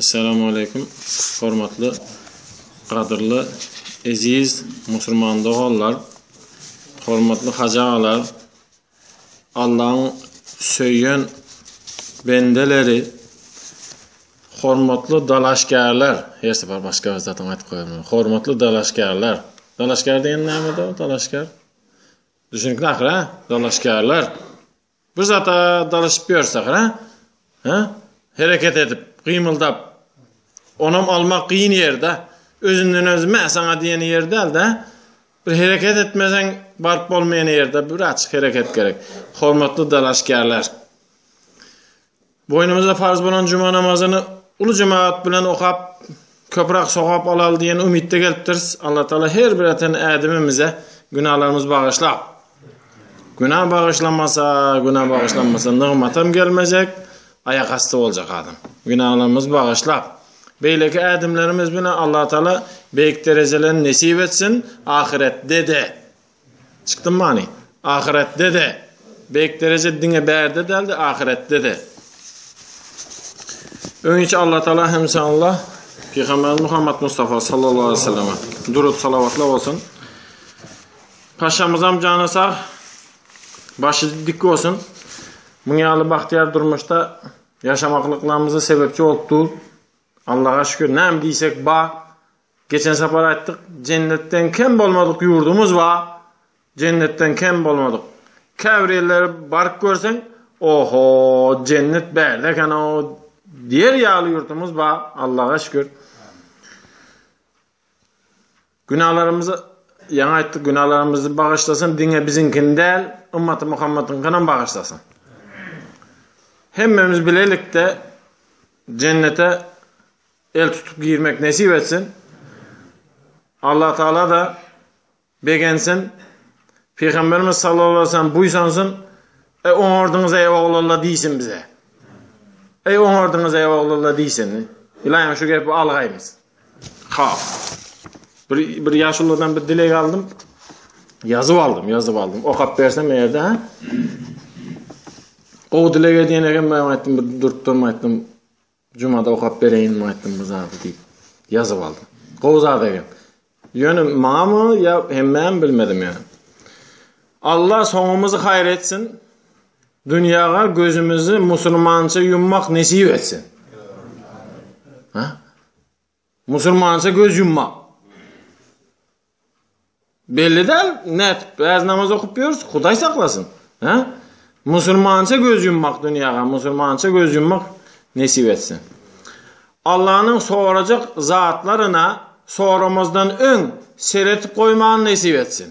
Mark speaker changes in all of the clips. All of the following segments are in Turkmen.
Speaker 1: Essalamu Aleýkum hormatly gadyrly eziz musurman doganlar hormatly hajy agalar Allaň söýen bendeleri hormatly dalaşgärler her sefer başga bir zatyň aýdyp goýarman hormatly dalaşgärler dalaşgär diýen näme dalaşgär düşünikli ahyra dalaşgärler Bir zata dalaşyp ýörsek, hä? Hä? Hereket edip, gymyldap. Onam almak gyn ýerde. Özünden özi mä saňa diýen ýer däl-de. Bir hereket etmeseň baryp bolmaýan ýerde biraz hereket gerek. Hormatly dalaşgärler. Boýnumyza farz bolan juma namazyny uly jemagat bilen okap, köpräk sogap alal diýen umytda gelipdiris. Allatagala her bir eten ädimimize günalarymyzy bagyşlap, günä bagyşlamasa, günä bagyşlanmasa nygmatam gelmejek, aýakasty boljak adam. Günalarymyzy bagyşlap, beýleki ädimlerimiz bilen Allatagala beýik derejelerini nesip etsin, ahyretde-de Çykdym many. Ahyretde-de. Beýik dereje diňe bärde däl-de, ahyretde-de. Öňiçi Allatagala hemşanla Pygamberimiz Muhammed Mustafa sallallahu aleyhi ve selleme durut salavatla olsun. Paşamyzam jana sag, başı dik olsun. Muň ýaly bagtyýar durmuşda ýaşamaklyklarymuza sebepçi bolup dur. Allaha şükür, näme diýsek ba, Geçen sapar aýtdyk, jennetden kem bolmadyk ýurdumyz bar, jennetden kem bolmadyk. Käbir ýerlere baryp görseň, Oho, jennet bärde eken-ow diýer ýaly ýurtumyz bar, Allaga şükür. Günahlarymyz, ýaňy aýtdyk, günahlarymyzy bagyşlasyn, diňe biziňkini däl, ymmaty Muhammedyňkyny hem bagyşlasyn. Hemmemiz bilelikde jennete el tutup girmek nesip etsin. Allah Taala da begensin. Pygamberimiz sallallahu aleyhi ve sellem buýsansyn. Ey oňardyňyz ey oglanlar diýsin bize. Ey oňardyňyz ey oglanlar diýsin. Ilaýam şu gepi algaýmyz. Ha. Bir bir ýaşulladan bir dileg aldym. Ýazyp aldym, ýazyp aldym. Okap bersem ýerde ha. Gowy dileg edýän eken men aýtdym, bir durup durma aýtdym. Jumada okap bereýinmi aýtdym bu zady diýip, ýazyp aldym. Gowy zat eken. Ýöne maňamy ýa hemmämi bilmedim ýöne. Allah soňumyzy haýyr etsin. Dünýäge gözümizi musulmança ýummak nesip etsin. Ha? Musulmança göz ýummak. Belli däl, nätip bäz namaz okup ýörüs, Hudaý saklasyn. Hä? Musulmança göz ýummak dünýäge, musulmança göz ýummak nesip etsin. Allanyň sorajak zatlaryna soramazdan öň seretip goýman nesip etsin.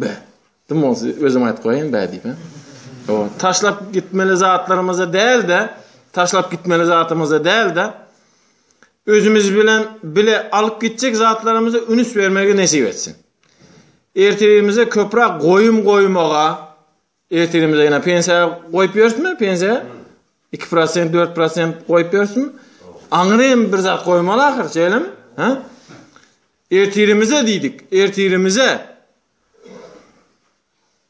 Speaker 1: Bä. Kim olsa özüm aýdyp goýaýyn bä diýip. O taşlap gitmeli zatlarymyzy däl-de, taşlap gitmeli zatymyzy däl-de, özümiz bilen bile alyp gitjek zatlarymyzy ünis bermegi nesip etsin. Ertebimize köprak goýum goýmaga, Ertirimize ýene pensiýa goýup ýörsmi, pensiýa? Iki prosent, dört prosent goýup ýörsmi? Aňyrem bir zat goýmaly ahyr, şeýlemi? Ha? Ertirimize diýdik, ertirimize.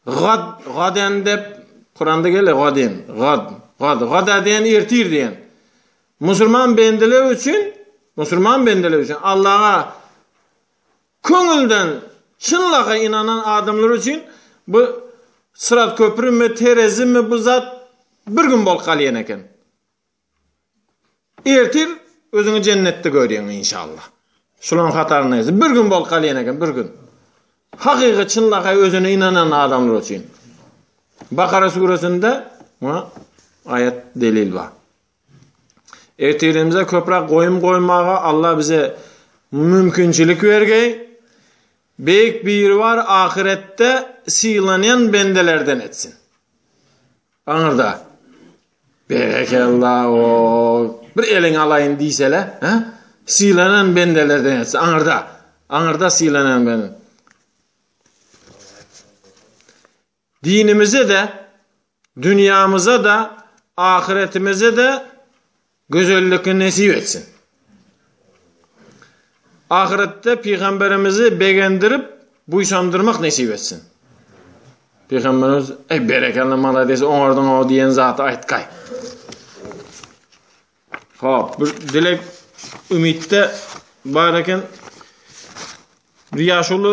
Speaker 1: Gad, gaden dep Kuranda gele gaden, gad, gad, gada diýen ertir diýen. Musulman bendeler üçin, musulman bendeler üçin Allaha Köňülden çynlakaý ynanan adamlar üçin bu syrat köprümi, terezimi bu zat bir gün bolup galýan eken. Ertir özüňi jennetde görýäň inşallah. Şularyň hataryndaýsy bir gün bolup galýan eken, bir gün. Hakyky çynlakaý özüne ynanan adamlar üçin. Bakara suresinde muňa aýat delil bar. Ertirimize köprak goýum goýmaga Allah bize mümkinçilik bergeý. Beýik biri bar ahyretde sylanýan bendelerden etsin. Aňyrda. Berekella o. Bir eliň alaýyn diýsele, ha? Sylanan bendelerden etsin aňyrda. Aňyrda sylanan bendelerden. Dinimize-de, dünýämize-de, ahyretimize-de gözellikni nesip etsin. Ahyretde pygamberimizi begendirip, buýsandyrmak nesip etsin. Pygamberimiz, "Eý, berekella, malades, oňardyň-ow" diýen zaty aýtgaý. Hop, bir dilek Ümitde bar eken. Bir ýaşuly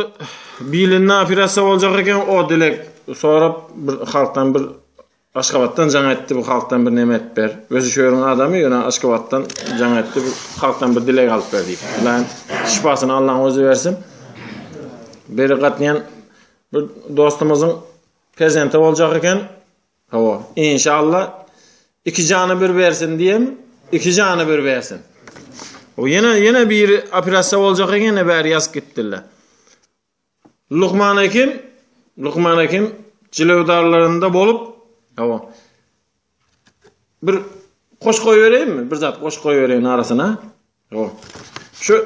Speaker 1: bilinna operatsiýa boljak eken, o dilek sorap bir halkdan bir Aşgabatdan jaň etdi, bu halkdan bir näme edip ber. Özi şu ýeriň adamy, ýöne Aşgabatdan jaň etdi, bu halkdan bir dilek alyp ber diýip. Lan şifasyny Allaň özi bersin. Beri gatnaýan bir dostumyzyň perzenti boljak eken. Hawa, inşallah iki jana bir bersin diýem, iki jana bir bersin. O ýene ýene bir operasiýa boljak eken, bäri ýazyp gitdiler. Lukman hekim, Lukman hekim jilewdarlarynda bolup, hawa. Bir goş goýbereýinmi? Bir zat goş goýbereýin arasyna. Hawa. Şu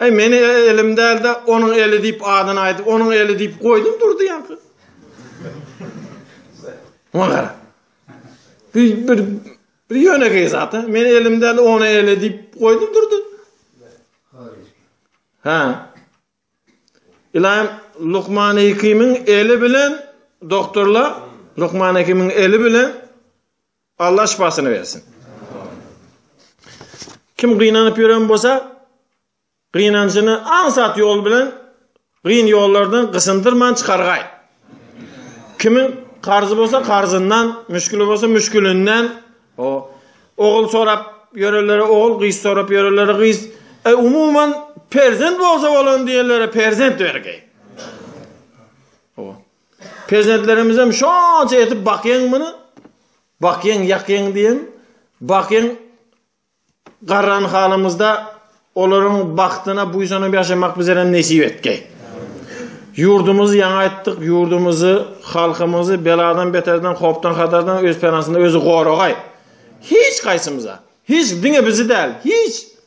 Speaker 1: Äý, meniň elim däl-de, onuň eli diýip adyny aýdyp, onuň eli diýip goýdum durdy ýaňky. Muňa gara. Bu bir bir ýönekeý zat, a? Meniň elim däl, onuň eli diýip goýdum durdy. Ha. Ilaýym Lukman Hekimiň eli bilen doktorlar Lukman Hekimiň eli bilen Allah şifasyny bersin. Kim gynanyp ýören bolsa, gynanjyny aňsat ýol bilen gyn ýollardan gysındyrman çykargaý. Kimin karzy bolsa karzyndan, müşkili bolsa müşkilinden, o ogul sorap ýörenlere ogul, gyz sorap ýörenlere gyz, e, umuman perzent bolsa bolan diýenlere perzent bergeý. Perzentlerimizem şonça etip bakýaň muny, bakýaň ýakýaň diýen, bakýaň garran halymyzda olaryň bagtyna buýsanyp ýaşamak bizerem nesip etdi. Ýurdumyzy ýaňy aýtdyk, ýurdumyzy, halkymyzy beladan beterden, howpdan hatardan öz penasynda özi goragaý. Hiç gaýsymyza, hiç diňe bizi däl, hiç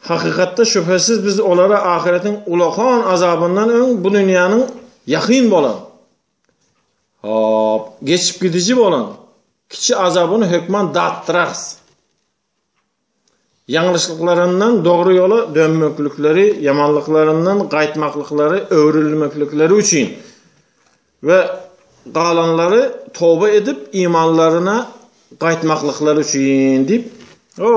Speaker 1: Hakykatda, şübhesiz biz olara ahyretiň ullakan azabyndan öň bu dünýäniň ýakyn bolan, hop, geçip gidiji bolan kiçi azabyny hökman datdyrarys. Ýalňyşlyklaryndan dogry ýola dönmeklikleri, ýamanlyklaryndan gaýtmaklyklary, öwrülmeklikleri üçin we galanlary toba edip, imanlaryna gaýtmaklyklary üçin diýip, o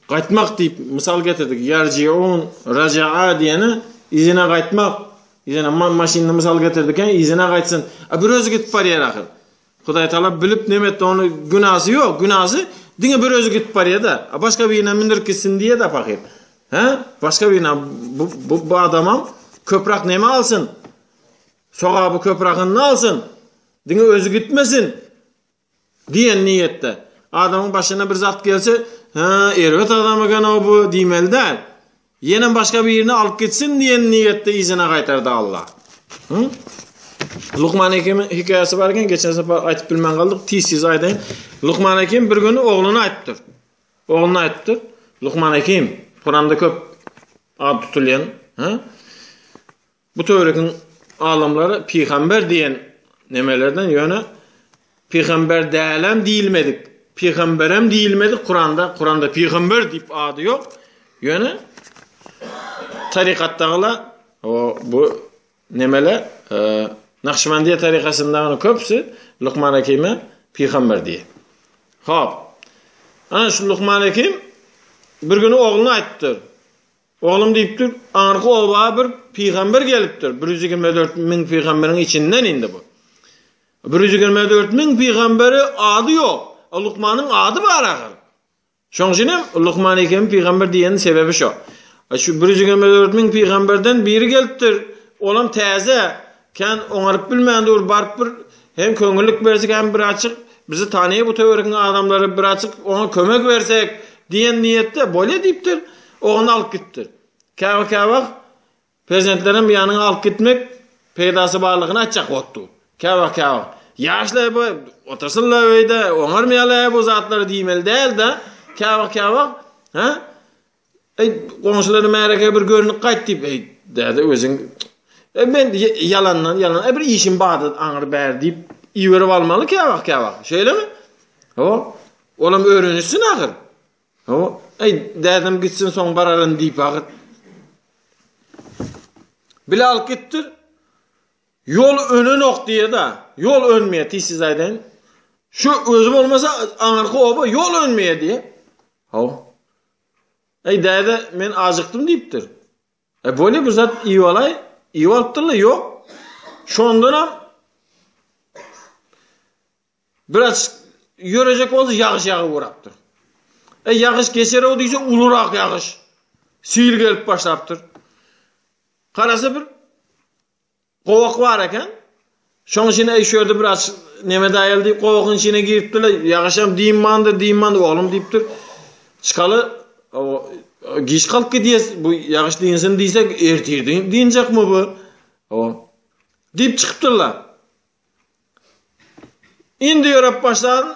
Speaker 1: Gaýtmak diýip mysal getirdik. Ýarjiun, raja'a diýeni yzyna gaýtmak. Yzyna maşynyny mysal getirdik. Ýa yzyna gaýtsyn. A bir özi gidip barýar ahyr. Hudaý Taala bilip näme etdi ony günasy ýok. Günasy diňe bir özi gidip barýar-da. A başga birine mündirip gitsin diýýär-de pahyr. Hä? Başga birine bu bu, bu adamam köprak näme alsyn? Sogaby köprakynda alsyn. Diňe özi gitmesin. Diýen niýetde. Adamyň başyna bir zat gelse, Hä, erbet adam eken-ow bu diýmeli däl. Ýenem başga birini alyp gitsin diýen niýetde yzyna gaýtardy Allah. Hı? Lukman Hekimiň hekaýasy bar eken, geçen sapar aýtyp bilmän galdyk, tiz-tiz aýdaýyn. Lukman Hekim bir gün ogluna aýtdyr. Ogluna aýtdyr. Lukman Hekim, Kuranda köp ad tutulýan, ha? Bu töwregiň alymlary pygamber diýen nemelerden ýöne pygamber dälem diýilmedik, pygamberem diýilmedik Kuranda, Kuranda pygamber diýip ady ýok, ýöne tarykatdagylar o bu nemeler Nakşybandiýa tarykasyndagynyň köpüsi Lukman Hakime pygamber diýýär. Hop. Ana şu Lukman Hakim bir güni ogluna aýdypdyr. Oglum diýipdir, Arka oba bir pygamber gelipdir, bir ýüz ýigrimi dört müň pygamberiň içinden indi bu. Bir ýüz ýigrimi dört müň pygamberi ady ýok. A Lukmanyň ady bar ahyr. Şoň üçin hem Lukman ekemi pygamber diýeniň sebebi şo. Şu bir ýüz ýigrimi dört müň pygamberden biri gelipdir, olam täze, Kän oňaryp bilmän dur, baryp bir hem köňüllik bersek hem birazjyk bizi tanaýar bu töweregiň adamlary, birazjyk oňa kömek bersek diýen niýetde bolýa diýipdir, ogluny alyp gitipdir. Käbir-kä wagt perzentlerem ýanyna alyp gitmek peýdasy barlygyny aýtjak bolupdyr. Käbir-kä wagt ýaşlar bu otursynlar öýde, oňarmaýarlar-ä bu zatlary diýmeli däl-de, käbir-kä wagt, hä? Eý, goňşulary märeke bir görnüp gaýt diýip, eý, däde özüň E men ýalandan ýalan, e bir işim bardy aňyr bär diýip iberip almaly käwagt käwagt. Şeýlemi? Ho. Olam öwrenişsin ahyr. Ho. Eý, dädem gitsin soň bararyn diýip ahyr. Bile alyp gitdir. Ýol önenok diýe-de, ýol önmeýär tiz siz aýdaýyn. Şu özi bolmasa aňyrky oba ýol önmeýär diýe. Ho. Eý, däde, men ajykdym diýipdir. E, bole, bir zat iýip alaý. Iýip alypdyr-la, ýok. Şondanam biraz ýörejek bolsa ýagyş ýagyp urapdyr. E, ýagyş geçer-ow diýse, ulurak ýagyş. Sil gelip başlapdyr. Garasa bir Gowak bar eken. Şoň üçin eý şu ýerde biraz neme daýaly diýip gowagyň içine giripdirler. Ýagyşam diýmandyr, diýmandyr oglum diýipdir. Çykaly giç galyp gidýäs. Bu ýagyş dinsin diýsek ertir dinjekmi bu? O. Diýip çykypdyrlar. Indi ýörep başlan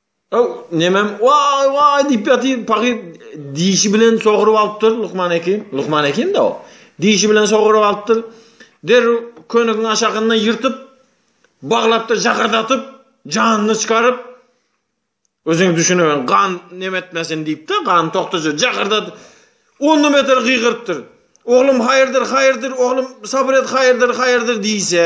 Speaker 1: Ow, Nemem, waý, waý diýip ýatyr, pahyr dişi bilen sogrup alypdyr Lukman Hekim. Lukman Hekim-de o. Dişi bilen sogrup alypdyr. Derrew könegiň aşagyndan ýyrtyp, baglapdyr, jakardatyp, janyny çykaryp, Özüňiz düşüneň, gan neme etmesin diýip-de, gan togtaja jakardatyp, ondan beter gygyrypdyr. Oglum, haýyrdyr, haýyrdyr, oglum, sabyr et, haýyrdyr, haýyrdyr diýse,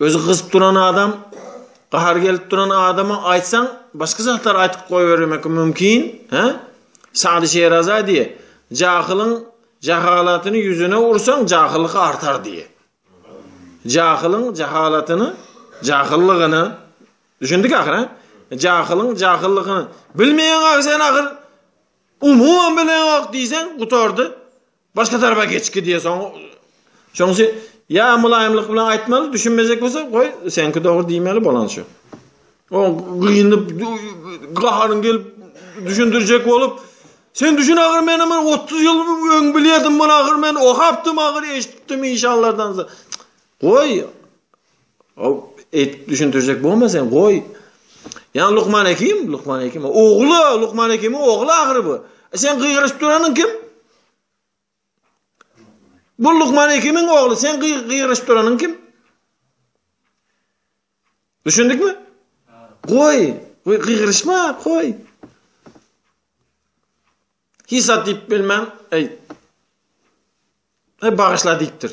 Speaker 1: Özi gyzyp duran adam, gahary gelip duran adama aýtsaň, başga zatlar aýtyp goýbermek mümkin, hä? Sady Şeraza diýe, jahylyň jahalatyny ýüzüne ursaň, jahyllyk artar diýe. Jahylyň jahalatyny, jahyllygyny, düşündik ahyr, hä? Jahylyň jahyllygyny bilmeýän ahyr sen ahyr, umuman bilenok diýseň, gutardy. Başga tarapa geç ki diye soň şonsi ya mylaýymlyk bilen aýtmaly düşünmejek bolsa goý senki dogry diýmeli bolan şu. O gynyp gaharyň gelip düşündirjek bolup sen düşün agyr men ama 30 ýyl öň bilýärdim bunu agyr men okapdym agyr eşitdim inşallardan. Goý Ow, eýtip düşündirjek bolma sen, goý. Ýa Lukman Hekim, Lukman Hekim, ogly, Lukman Hekimiň ogly ahyry bu. E sen gygyryşyp duranyň kim? Bu Lukman Hekimiň ogly, sen gygyryşyp duranyň kim? Düşündikmi? Goý, goý gygyryşma, goý. Hisa diýip bilmem, eý. Eý bagyşla diýipdir.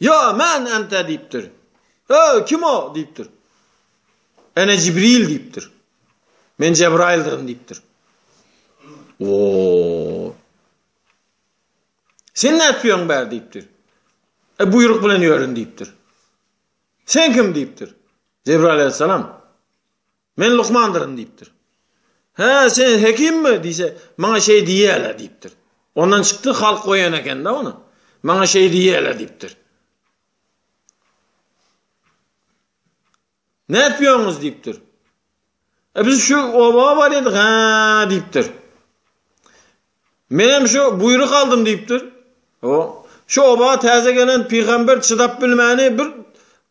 Speaker 1: Ýa, men ent-ä diýipdir. Öý, kim o? diýipdir. Ene Jibril diýipdir. Men Jebraýyldyryn diýipdir. O. Sen nädip ýörüň bär diýipdir. E, buýruk bilen ýörün diýipdir. Sen kim diýipdir. Jebraýyl aleyhissalam. Men lukmandyryn diýipdir. Hä, sen hekimmi? diýse, maňa şeý diýýärler diýipdir. Ondan çykdy, halk goýan eken-de ony. Maňa şeý diýýärler diýipdir. Nätýoňyz diýipdir. E biz şu oba barýadyk, hä diýipdir. Menem şu buýruk aldym diýipdir. O, şu oba täze gelen pygamber çydap bilmäni bir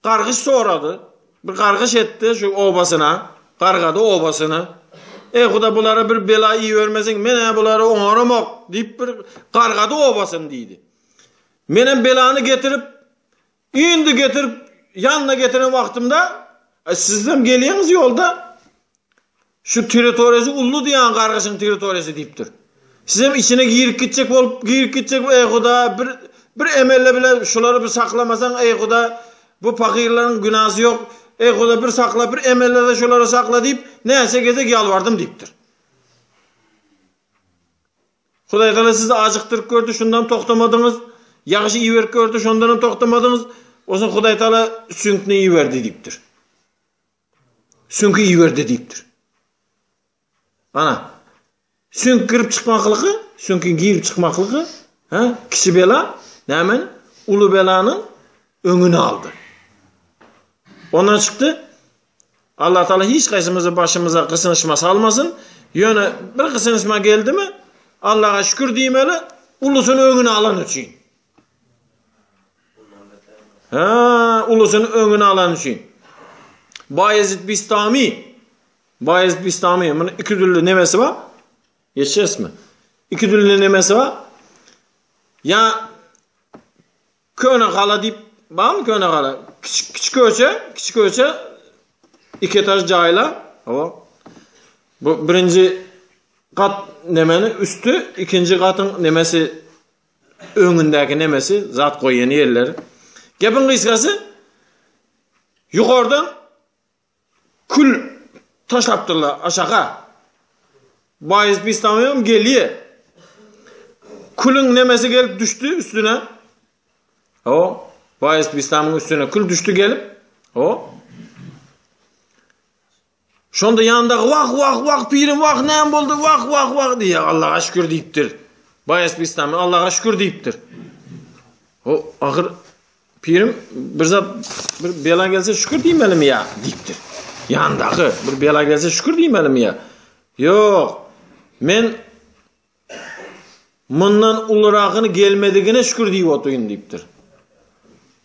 Speaker 1: gargyş sorady. Bir gargyş etdi şu obasyna, gargady obasyny. Eý, Huda bulara bir bela ibermesin, men-ä bulary oňaramok, diýip bir gargady obasyny diýdi. Menem belany getirip, Indi getirip ýanyna getiren wagtymda, Aý, sizem gelýäňiz ýolda. Şu territoriýasy ully diýýän gargyşyň territoriýasy diýipdir. Sizem içine girip gitjek bolup, girip gitjek, eý Huda, bir bir emele bile şulary bir saklamasaň, eý Huda, bu pahyrlaryň günasy ýok, eý Huda, bir sakla, bir emele-de şulary sakla diýip, näçe gezek ýalbardym diýipdir. Hudaýgala sizi ajykdyryp gördi, şundam toktamadyňyz, ýagşy iberip gördi, şondanam toktamadyňyz, onsoň Hudaýtagala süňkni iberdi diýipdir. Süňki iberdi diýipdir. Ana, süňk girip çykmaklygy, süňki girip çykmaklygy, ha, kiçi bela, nämen, uly belanyň öňüni aldy. Ondan çykdy, Allah Taala hiç gaýsymyzy başymyza gysynyşma salmasyn. Ýöne bir gysynyşma geldimi, Allaha şükür diýmeli, ulusyny öňüne alan üçin. Ha, ulusyny öňüne alan üçin. Bayezid Bistami. Bayezid Bistami. Bunun iki dürli nemesi var. Geçeceğiz mi? İki dürli nemesi var. Ya Köne gala diýip barmy köne gala kiçi kiçi köçe kiçi köçe iki etaž jaýla o bu birinji gat nemeni üstü ikinji gatyň nemesi öňündäki nemesi zat goýýan ýerleri gepiň gysgasy ýokardan Kül taşlapdyrlar aşaka. Baýys Bistamygam gelýä. Külüň nemesi gelip düşdi üstüne. O, Baýys Bistamyň üstüne kül düşdi gelip. O. Şonda ýandaky wah wah wah pirim wah näme boldy wah wah wah diýýär. Allaha şükür diýipdir. Baýys Bistamy Allaha şükür diýipdir. O ahyr Pirim bir zat bir bela gelse şükür diýmelimi ýa? diýipdir. Ýandaky bir bela gelse şükür diýmelimi ýa? Ýok. Men mundan uluragyny gelmedigine şükür diýip otyryn diýipdir.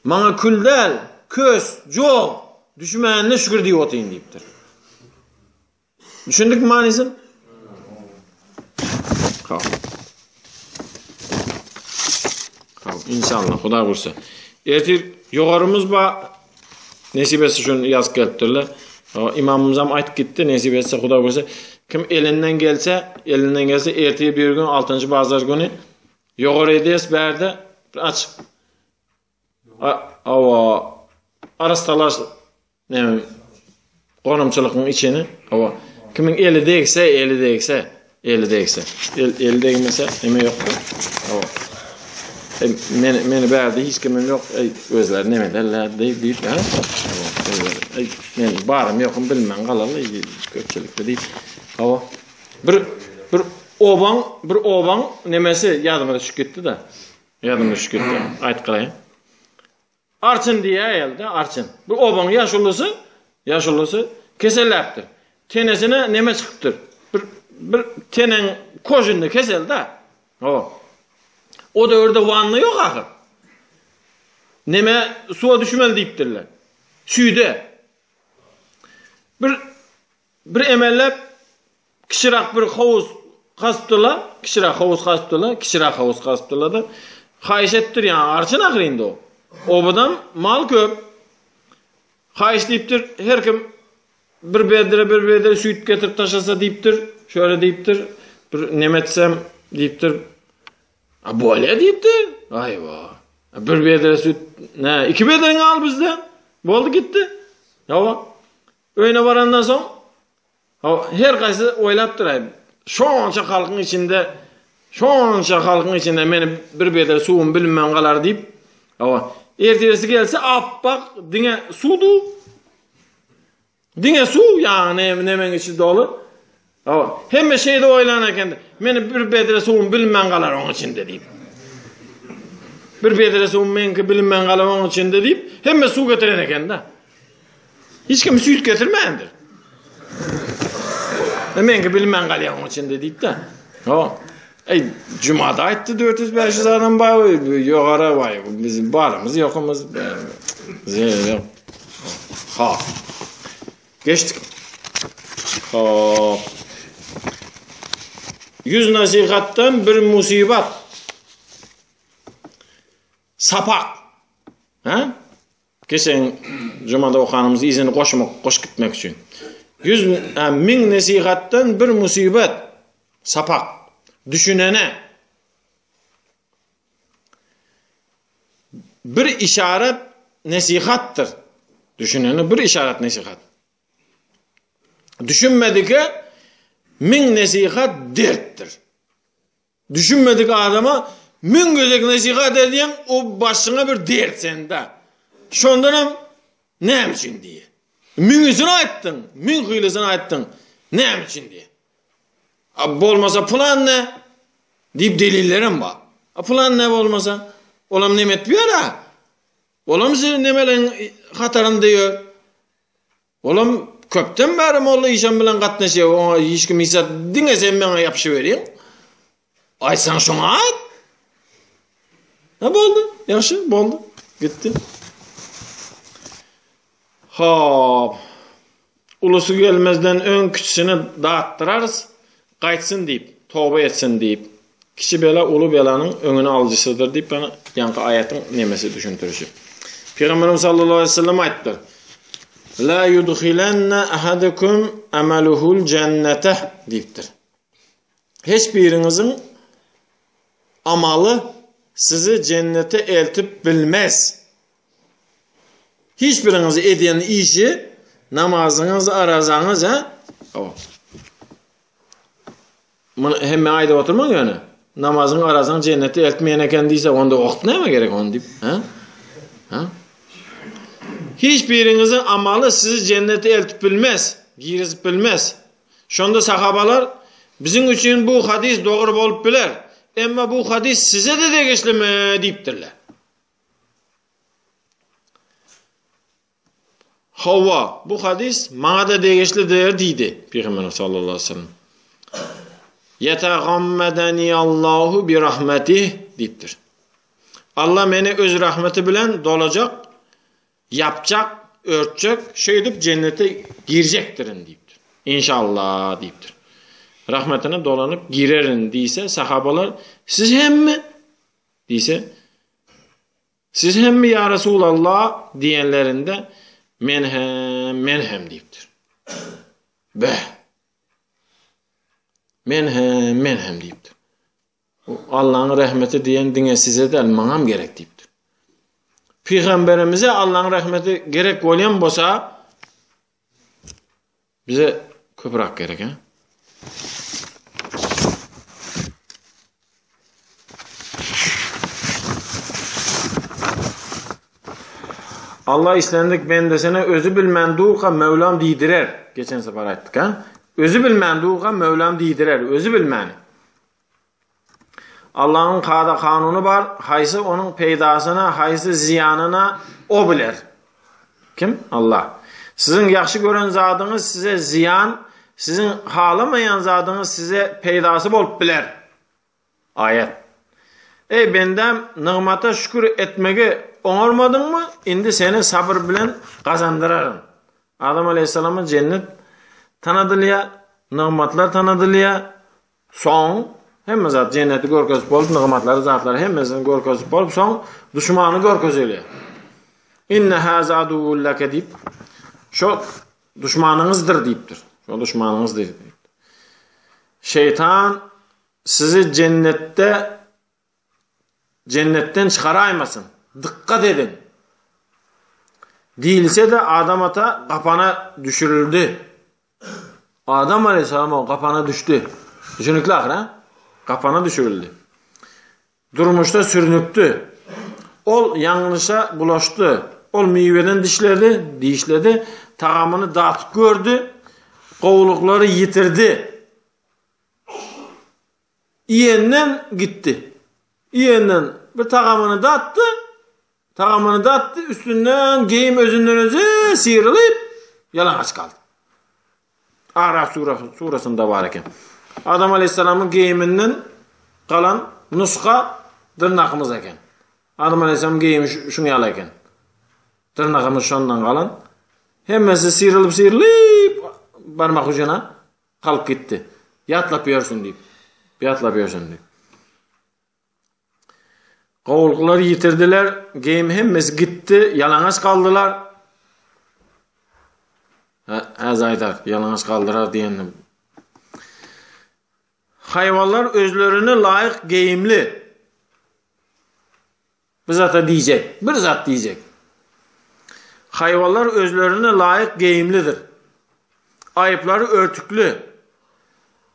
Speaker 1: Maňa kül däl, kös, jog düşmänine şükür diýip otyryn diýipdir. Düşündik manysyn? Kal. Kal. İnşallah. Huda bursa. Ertir yogarımız ba nesibesi şun yaz gelipdirler. İmamımız hem ayt gitti. Nesibesi huda bursa. Kim elinden gelse, elinden gelse ertir bir gün 6. bazar günü yogar edes berde aç Hawa, arastalaş näme gonamçylygyň içini, hawa. Kimiň eli degse, eli degse, eli degse. El, eli degmese, neme ýokdur. Hawa. E, men, meni bärde hiç kimim ýok, ey, özleri neme derler, diýip, diýip, ha? Ey, men barym ýokum bilmän galaly, köpçülikde diýip. Hawa. Bir, bir obaň, bir obaň nemesi ýadyma düşüp gitdi-de. Ýadyma düşüp gitdi. Aýdyp galaýyn. Arçyn diýýär aýal-da, arçyn. Bu obaň ýaşulusy, ýaşulusy keselläpdir. Tenesine neme çykypdyr. Bir bir tenen kožinli kesel-da. O. O döwürde wanna ýok ahyr. Neme suwa düşmeli diýipdirler. Şüýde. Bir Bir emellep kiçirak bir howuz gazpdyla, kiçirak howuz gazpdyla, kiçirak howuz gazpdyla-da, haýyş etdir, ýa arçyn ahyr indi o. Obadam mal köp. Haýyş diýipdir, her kim bir bedre, bir bedre süýt getirip taşlasa diýipdir, şöyle diýipdir, bir neme etsem diýipdir. A bolýa diýipdir. Aýwa. Bir bedre süýt, ne, iki bedreňi al bizden. Boldy gitdi. Ýa Öýüne barandan soň, Hawa, her gaýsy oýlapdyr-aý, şonça halkyň içinde, şonça halkyň içinde meni bir bedre suwum bilinmän galar diýip, hawa, ertiresi gelse apbak diňe suw-du, diňe suw, ýagny nemeň içi doly, Hawa, hemme şeýle oýlan eken-de. Meni bir bedre suwum bilinmän galar oň içinde diýip. Bir bedre suwum meňki bilinmän galar oň içinde diýip, hemme suw getiren eken-de. Hiç kim süýt getirmändir. E, meňki bilinmän galýar oň içinde diýip-de. Hawa. Ey, jumada aýtdy 400-500 adam bar, ýogara bar. Biz barymyz, ýokumyz. Zeýle. Ha. Geçdik. Hop. Ýüz nasihatdan bir musibat. Sapak. Ha? Geçen jumada okanymyz izini goşmak, goş gitmek üçin. Ýüz min nasihatdan bir musibat. Sapak. Düşünene. Bir işaret nesihatdyr. Düşünene bir işaret nesihat. Düşünmedike min nesihat dertdir. Düşünmedik adama min gözek nesihat edýän o başyňa bir dert sende. Şondan hem näme üçin diýe. Min üçin aýtdyň, min hylysyny aýtdyň. Näme üçin diýe. A bolmasa pulan ne? Diyip delillerim var. A pulan ne bolmasa? Olam nem etip ýör ha? Olam siz nemeleň hatarynda ýör? Olam köpden bäri molla işem bilen gatnaşýar. Oňa hiç kim hiç zat diňe sen meňe ýapyşyp beriň. Aýtsaň şoňa aýt. Ha boldy. Ýagşy, boldy. Gitdi. Hop. Ulusy gelmezden öň kiçisini datdyrarys. Gaýtsyn diýip, toba etsin diýip. Kiçi bela uly belanyň öňüni alyjysydyr diýip, ýa ýanky aýatyň nemesi düşündirişi. Pygamberimiz sallallahu aleyhi ve sellem aýtdy. La yudkhilanna ahadukum amaluhul jannata diýipdir. Hiç biriňiziň amaly sizi jennete eltip bilmez. Hiç biriňiz edýän işi, namazyňyz, arazaňyz, he? Awa. Muny hemme aýdyp oturmaň ýöne. Namazyň, arazaň jennete eltmeýän eken diýse, onda oht näme gerek onu diýip, he? He? Hiç biriňiziň amaly sizi jennete eltip bilmez, girizip bilmez. Şonda sahabalar, Biziň üçin bu hadys dogry bolup biler, emma bu hadys size-de degişlimi? diýipdirler. Hawa, bu hadys maňa-da degişlidir diýdi Pygamber sallallahu aleyhi ve sellem. Yetagammedani Allahu bi rahmeti diýipdir. Allah meni öz rahmeti bilen dolacak Ýapjak, örtjek, şeýdip jennete girjekdirin diýipdir. Inşalla diýipdir. Rahmetine dolanyp girerin diýse, sahabalar, siz hemmi? diýse, siz hemmi ýa Resulalla diýenlerinde, men hem, men hem diýipdir. Bä. Men hem, men hem diýipdir. Bu Allaň rahmeti diýen diňe size däl, maňam gerek diýipdir. Pygamberimize Allaň rahmeti gerek bolýan bolsa, bize köprak gerek, he? Allah islendik bendesine özü bilmän durka Mevlam diýdirer. Geçen sefer aýtdyk ha. Özü bilmän durka Mevlam diýdirer, özü bilmän. Allahyň kada-kanuny bar, haýsy onuň peýdasyna, haýsy zyýanyna o biler. Kim? Allah. Siziň ýagşy gören zadyňyz size zyýan, siziň halamaýan zadyňyz size peýdasy bolup biler. Aýat. Eý bendäm, nygmata şükür etmegi oňarmadyňmy? Indi seni sabyr bilen gazandyraryn. Adam aleyhissalama jennet tanadylýar, nygmatlar tanadylýar, Soň hemme zat jenneti görkezip bolup, nygmatlary, zatlary hemmesini görkezip bolup, soň düşmany görkezeli. Inne haza aduwwul laka diýip, şo düşmanyňyzdyr diýipdir. Şo düşmanyňyzdyr diýip. Şeytan sizi cennetde jennetden çykaraýmasyn, dykgat ediň! diýilse-de, Adam ata gapana düşürildi. Adam alaýhyssalam-ow gapana düşdi. Düşünikli ahyry, hä? Gapana düşürildi. Durmuşda sürnükdi. Ol ýalňyşa bulaşdy. Ol miweden dişledi, dişledi, tagamyny datyp gördi, gowulyklary ýitirdi. Iýenden gitdi. Iýenden bir tagamyny datdy. Tagamyny datdy, üstünden geýim özünden özi syrylyp, ýalaňaç galdy. Araf surasynda bar eken. Adam aleyhisselamyň geýiminden galan nusga dyrnakymyz eken. Adam aleyhisselam geýimi şuň ýaly eken. Dyrnagymyz şondan galan. Hemmesi syrylyp-syrylyp barmak ucuna Galyp gitdi. Ýatlap ýörsün diýip. Ýatlap ýörsün diýip. Gowulgylary ýitirdiler. Geýim hemmesi gitdi. Ýalaňaç galdylar. Häzir aýdar, ýalaňaç galdyrar diýendim. Haýwanlar özlerine laýyk geýimli. Bir zat-a diýjek, bir zat diýjek. Haýwanlar özlerine laýyk geýimlidir. Aýyplary örtükli.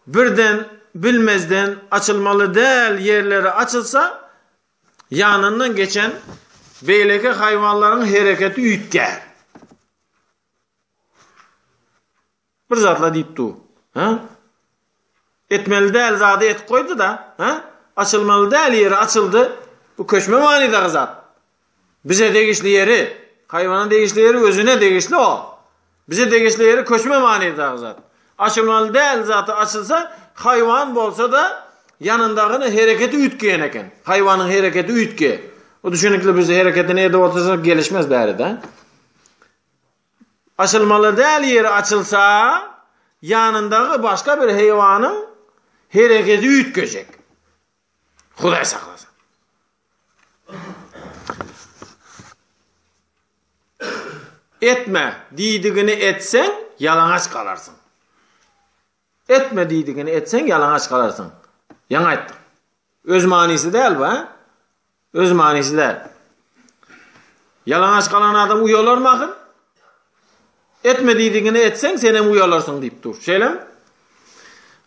Speaker 1: Birden, bilmezden açylmaly däl ýerleri açylsa, ýanyndan geçen beýleki haýwanlaryň hereketi üýtgär. Bir zatla diýip dur. Hä? Etmeli däl zady etip goýdy-da, hä? Açylmaly däl ýeri açyldy. Bu köçme manydaky zat. Bize degişli ýeri, haýwana degişli ýeri özüne degişli o. Bize degişli ýeri köçme manydaky zat. Açylmaly däl zat açylsa, haýwan bolsa-da, ýanyndagyny hereketi üýtgeýän eken. Haýwanyň hereketi üýtge. O düşünikli biz hereketini edip otursak gelişmez bäri-de. Açylmaly däl ýeri açylsa, ýanyndaky başga bir heýwanyň hereketi üýtgejek. Hudaý saklasyn. Etme, diýdigini etseň, ýalaňaç galarsyň. Etme diýdigini etseň ýalaňaç galarsyň. Ýaňy aýtdyk. Öz manysy däl bu, hä? Öz manysy däl. Ýalaňaç galan adam uýalarmy ahyr? Etme diýdigini etseň sen hem uýalarsyň diýip dur. Şeýlemi?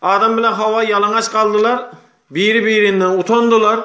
Speaker 1: Adam bilen Hawa ýalaňaç galdylar. Biri-birinden utandylar.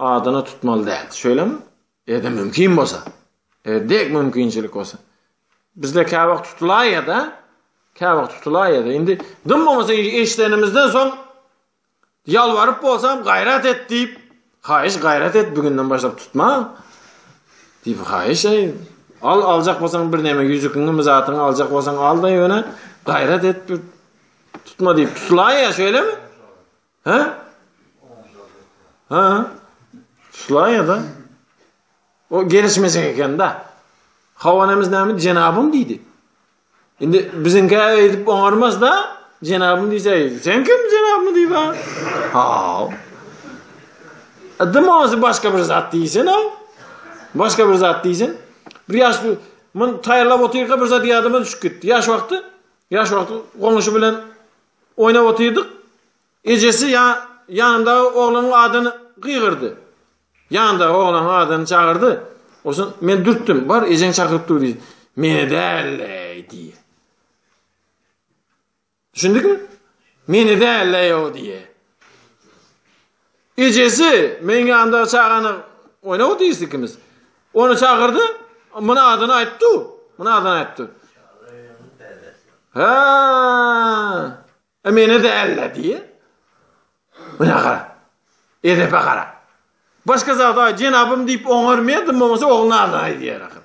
Speaker 1: Adyny tutmaly däl. Şeýlemi? Ýa-da mümkin bolsa. Eger dek mümkinçilik bolsa. Bizde kä wagt tutulaý ýa-da kä wagt tutulaý ýa-da indi dym bolmasa eşidenimizden soň ýalwaryp bolsam gaýrat et diýip, haýyş gaýrat et bugünden başlap tutma. Diýip haýyş eý. Al aljak bolsaň bir näme ýüzükiňi mi zatyňy aljak bolsaň al-da ýöne gaýrat et tutma diýip tutulaý ýa şeýlemi? Ha? Ha? Şulaýa da. O gelişmejek eken da. Hawanemiz näme jenabym diýdi. Indi biziňki aýdyp oňarmaz da. Jenabym diýse, sen kim jenabym diýip ha? Ha. Adam ozi başga bir zat diýsen o. Başga bir zat diýsen. Bir ýaş men taýýarlap otyrka bir zat ýadyma düşüp gitdi. Ýaş wagty, ýaş wagty goňşy bilen Oýnap otyrdyk. Ejesi ýa ýanyndaky oglanyň adyny gygyrdy. Ýanyndaky oglanyň adyny çagyrdy. Oson men dürtdüm. Bar, ejeň çakyryp dur diýdi. Meni dälleý diýýä. Düşündikmi? Meni dälleý o diýýä. Ejesi, Meň ýanymdaky çagany oýnap otyrys ikimiz. Ony çagyrdy, muny adyny aýtdy-u, muny adyny aýtdy. Hä, e, meni däl-le diýýä. Muňa gara, edepe gara. Başga zat aý, jenabym diýip oňarmaýar, dym bolmasa oglunyň adyny aýdýar ahyr.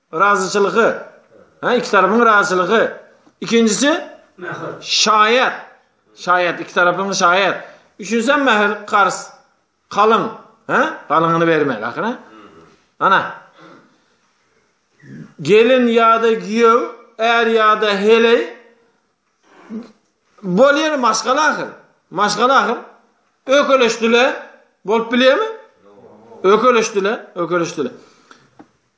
Speaker 1: Razyçylygy. Ha, iki tarapyň razyçylygy. Ikinjisi mähir. Şaýat. Şaýat iki tarapyň şaýat. Üçünjisi mähir, karz. Kalyň. Ha? Kalyňyny bermeli ahyra. Ana. Gelin ýa-da giýew, är ýa-da heleý bolýar maşgala ahyr. Maşgala ahyr. Ökeleşdiler. Bolup bilýärmi? Ökeleşdiler, ökeleşdiler.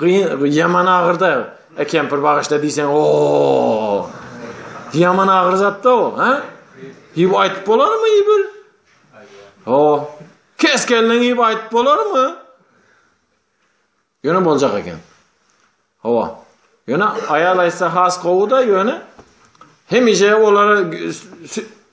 Speaker 1: Gyn ýaman agyrda e kempir bagyşla diýseň o ýaman agyr zatda o ha ýyp aýdyp bolarmy ýybyl o kes geldiň ýyp aýdyp bolarmy ýöne boljak eken hawa ýöne aýal aýtsa has gowy da ýöne hemişe olara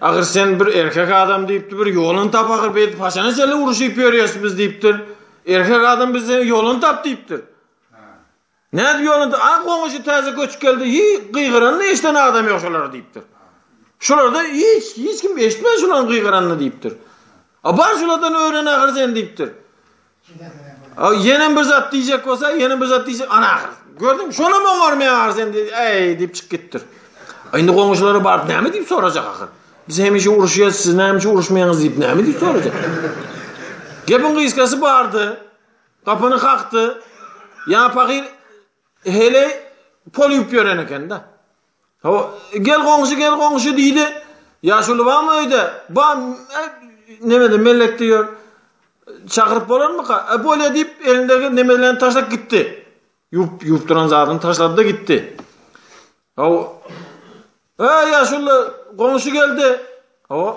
Speaker 1: Ahyr sen bir erkek adam diýipdir, bir ýoluny tap ahyr biz paşana çenli uruşyp ýörýäs biz diýipdir. Erkek adam bize ýoluny tap diýipdir. Nädip ýoluny? A goňşy täze göçüp geldi, hi gygyranyny eşden adam ýok şolar diýipdir. Şolarda hiç hiç kim eşitmän şolaryň gygyranyny diýipdir. A bar şolardan öwren ahyr sen diýipdir. Aw ýene bir zat diýjek bolsa, ýene bir zat diýjek. Ana ahyr. Gördüň, şonam oňarmaýar sen diýip, eý diýip çykyp gitdir. Indi goňşulara baryp näme diýip sorajak ahyr? Biz hemişe uruşýas, siz näme üçin uruşmaýaňyz diýip näme diýip sorajak? Gepiň gysgasy bardy. Gapyny kakdy. Ýa pahyr hele pol ýup ýören eken-de. Gel goňşy, gel goňşy diýdi. Ýaşuly barmy öýde? Bar, nemede mellekde ýör. Çagyryp bolarmyka? E, bolýa diýip, elindäki nemelerini taşlap gitdi. Ýuwup, ýuwup duran zadyny taşlady-da gitdi. Hawa. E, ýaşuly, goňşy geldi. Hawa.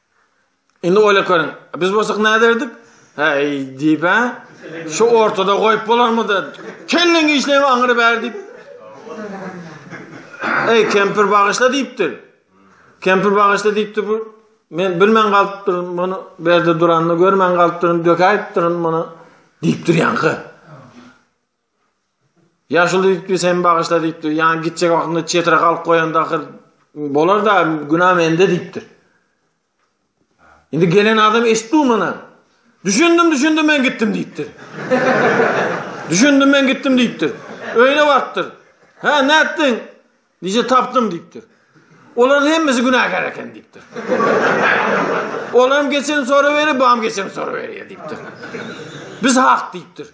Speaker 1: Indi oýlap görüň. Biz bolsak näde ederdik? Heý, diýip, hä? Şu ortada goýup bolarmydy? Kelleň işleýme aňyry bär diýip. Eý, kempir bagyşla diýipdir. Kempir bagyşla diýipdir bu. Men bilmän galypdyryn muny, berde duranyny görmän galypdyryn, dökäýipdirin muny diýipdir ýaňky. Ýaşuly diýipdi, sen bagyşla diýipdi. Ýa gitjek wagtynda çetre galyp goýanda ahyr bolar-da, günä mende diýipdi. Indi gelen adam eşitdi muny. Düşündim, düşündim men gitdim diýipdi. düşündim men gitdim diýipdi. Öýüne bartdyr. Ha, nätdiň? Nije tapdym diýipdir. Olaryň hemmesi günäkär eken diýipdir. Olam geçen soru beri, bam geçen soru beri diýipdir. Biz hak diýipdir.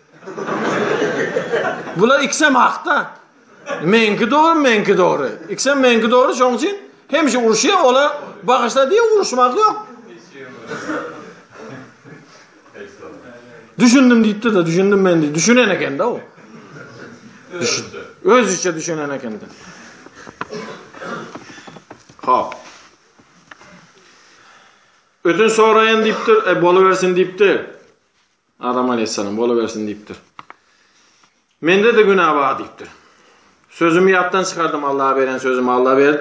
Speaker 1: Bular iksem hakda. Menki dogry, menki dogry. Iksem menki dogry, şoň üçin hemişe uruşýar, olar bagyşla diýip uruşmak ýok. Düşündüm diýipdi de, düşündüm men diýip düşünen ekende o. Düşün. Özüçe düşünen ekende. Hop. Ödün soraýan diýipdir, e bolubersin diýipdi. Adam aleyhisselam bolubersin diýipdir. Mende-de günä bar diýipdir. Sözümi ýatdan çykardym, Allaha beren sözümi Alla ber,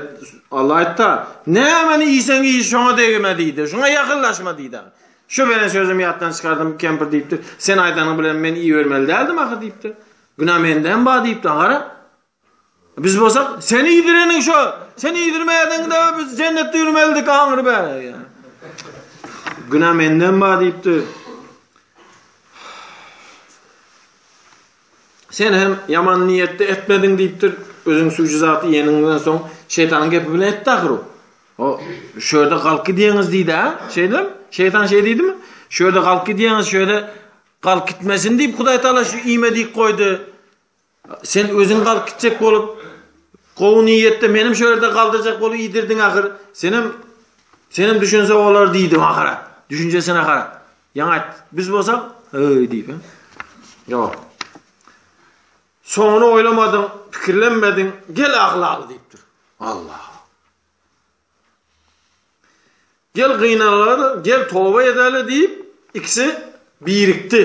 Speaker 1: Alla aýtdy-a, Nämäni iýseň iý, şoňa degme diýdi, şoňa ýakynlaşma diýdi. Şu beren sözümi ýatdan çykardym, kempir diýipdir, Sen aýdanyň bilen men iýibermeli däldim ahyr diýipdir. Günä mende hem bar diýipdir, gara. Biz bolsa sen iýdireniň şo, sen iýdirmädiňde biz jennetde ýürmelidik aňry bäri. Günä menden bar diýipdi. Sen hem ýaman niýetde etmediň diýipdir. Özüň süýji zaty ýeniňden soň şeýtanyň gepi bilen etdi ahyry. O şu ýerde galky diýeniz diýdi-a. Şeýdem, şeýtan şeý diýdimi? Şu ýerde galky diýeniz, şu ýerde galk gitmesin diýip Hudaý Taala şu iýme diýip goýdy. Sen özüň galyp gitjek bolup, gowy niýetde menem şu ýerde galdyrjak bolup iýdirdiň ahyr. Senem senem düşünse olar diýdim ahyra. Düşünjesin ahyra. Ýaňy aýt. Biz bolsak, öý diýip. Ýok. Soňuny oýlamadyň, pikirlenmediň, gel aglaly diýipdir. Allah. Gel gynanlar, gel toba edeli diýip, ikisi birikdi.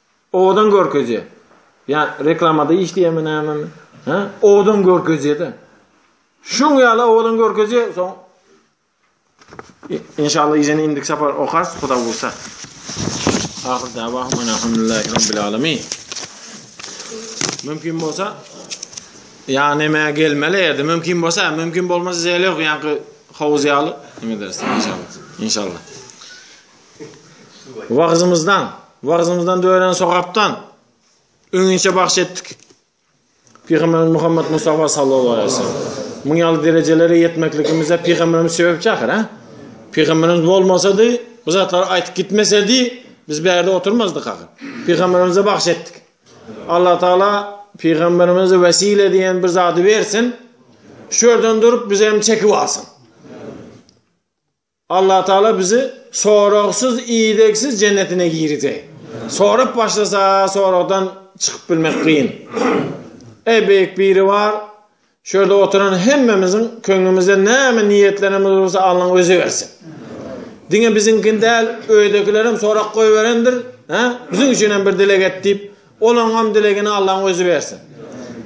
Speaker 1: Owadan görkezýä. Ýa reklamada işleýärmi nämemi? Hä? Owadan görkezýä-de. Şuň ýaly owadan görkezýä, soň inşallah ýene indik sapar okarys, Huda bolsa. Ahir dawa mana hamdulillahi rabbil alamin. Mümkin bolsa ýa näme gelmeli ýerde, mümkin bolsa, mümkin bolmasa zeli ýok, ýa howuz ýaly. Näme dersiň inşallah. İnşallah. Wagyzymyzdan, wagyzymyzdan dören sogapdan öňinçe bagş etdik. Pygamberimiz Muhammed Mustafa sallallahu aleyhi ve sellem. Muň ýaly derejelere ýetmekligimize pygamberimiz sebäpçi ahyr, ha? Pygamberimiz bolmasady, bu zatlary aýtyp gitmesedi, biz bu ýerde oturmazdyk ahyr. Pygamberimize bagş etdik. Allah Taala pygamberimize wesile diýen bir zady bersin. Şu ýerden durup biz hem çekip alsyn. Allatagala bizi soragsyz idegsiz jennetine girizey. Sorap başlasa soragdan çykyp bilmek kyn. Eý beýik biribar şurada oturan hemmemiziň köňlümizde näme niýetlerimiz bolsa Allaň özi bersin. Diňe biziňkini däl öýdekilerem sorag goýberendir. Hä? Biziň üçin hem bir dileg et diýip Olaňam dilegini Allaň özi bersin.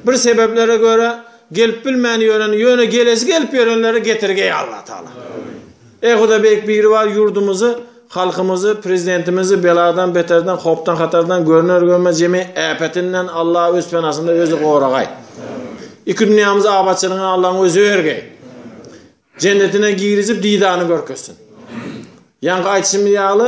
Speaker 1: Bir sebeplere göre gelip bilmän ýören ýöne gelesi gelip ýörenleri getirge eý Allah Taala. Eý Huda Beýik Biribar ýurdumyzy Halkymyzy Prezidentimizi beladan beterden hopdan hatardan görner görmez jemi äpetinden Allah öz penasynda özi goragaý. Iki dünýämizi abatçylygyny Allaň özi bergeý. Jennetine girizip didany görkezsin. Ýaňky aýtşymyz ýaly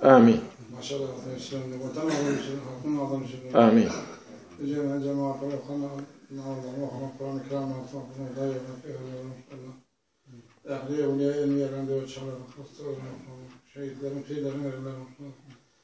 Speaker 1: Amin. Amin. Amin.